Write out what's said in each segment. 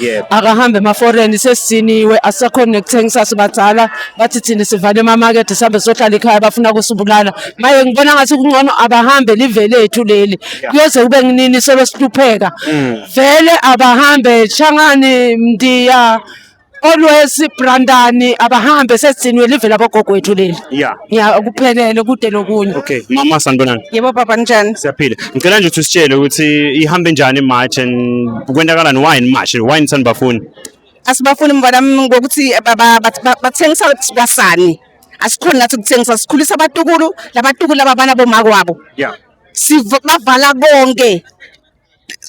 Yebo. akahambe emaforeni sesiniwe asisakhoni nekuthengisa sibadala bathi thina sivale emamakethe sihambe sohlala ekhaya bafuna kusibulala maye ngibona ngathi kungcono abahambe live lethu leli kuyoze kube nginini solo sihlupheka vele abahambe shangani mndiya olwesi brandani abahambe sesiniwe live labogogo wethu leli Yeah. ya kuphelele kude nokunye Okay. Mama sanibonani. Yebo baba njani? Siyaphila. ngicela nje ukuthi usitshele ukuthi ihambe njani imarch and kwenzakalani why in march why in sanibafuni asibafuni mfana ngokuthi bathengisa kwasani asikhona nathi ukuthengisa sikhulisa abatukulu labatukulu ababana bomako wabo yeah sibavala konke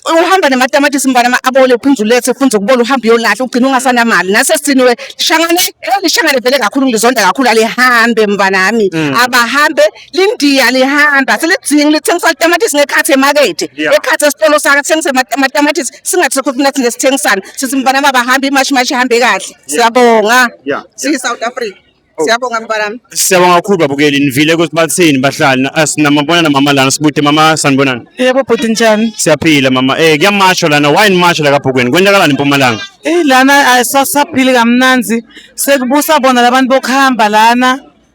uhamba namatamatisi mfana abole uphinde ulethe ufunze ukubola uhambe uyolahla ugcina ungasanamali nase siniwe lishangane lishangane vele kakhulu ngizonda kakhulu alihambe mfanami mm. abahambe lindiya lihamba selidzingi lithengisa tamatisi ngekhathi emakethe ekhathi esitolo sakhe sithengise amatamatisi singathi sekhuthi nathi nesithengisana sithi mfana baba hamba imashi mashi ihambe kahle siyabonga siyi-south africa oh. siyabonga mntanami siyabonga kakhulu babukeli nivile ukuthi bathini bahlali sinamabona namama lana sibude mama sanibonani yebo bhuti njani siyaphila mama um eh, kuyamasho lana why nimasho la kabhukweni kwenzakalani empumalanga eyi lana asaphili kamnanzi sekubusa bona labantu bokuhamba lana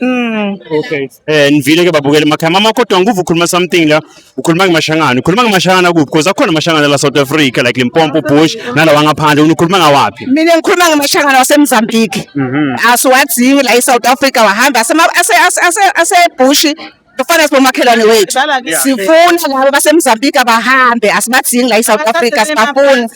Mm. Okay. Eh nivile ke babukele emakhaya. Mama kodwa nguvu ukhuluma something la. Ukhuluma ngemashangana. Ukhuluma ngemashangana kuphi? Because akhona amashangana la South Africa like Limpopo Bush nalawa ngaphandle. Ukhuluma ngawaphi? Mina ngikhuluma ngemashangana waseMozambique. Mhm. Asiwaziwe la eSouth Africa wahamba asema ase ase ase bushi Kufana sibomakhelwane wethu. Sifuna labo baseMozambique abahambe asibadingi la eSouth Africa sibafuni.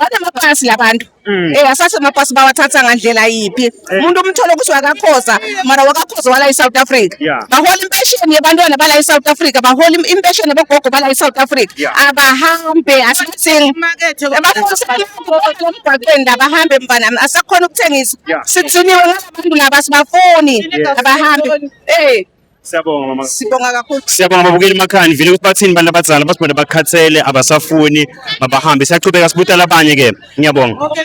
Banamapasi labantu. Mm. Eh asase amapasi bawathatha ngandlela yiphi? Eh. Umuntu umthole ukuthi wakakhoza mara wakakhoza wala eSouth Africa. Bahola impesheni yabantwana bala eSouth Africa, bahola impesheni yabogogo bala eSouth Africa. Abahambe asibadingi. Emgwaqweni la bahambe mfana asakhona ukuthengisa. Sithiniwe ngabantu laba sibafuni abahambe. Eh Siyabonga mama. Sibonga kakhulu. Siyabonga babukeli emakhaya nivile ukuthi bathini abantu abadala basibona bakhathele abasafuni mabahambe siyaqhubeka sibuta labanye ke. Ngiyabonga. Okay.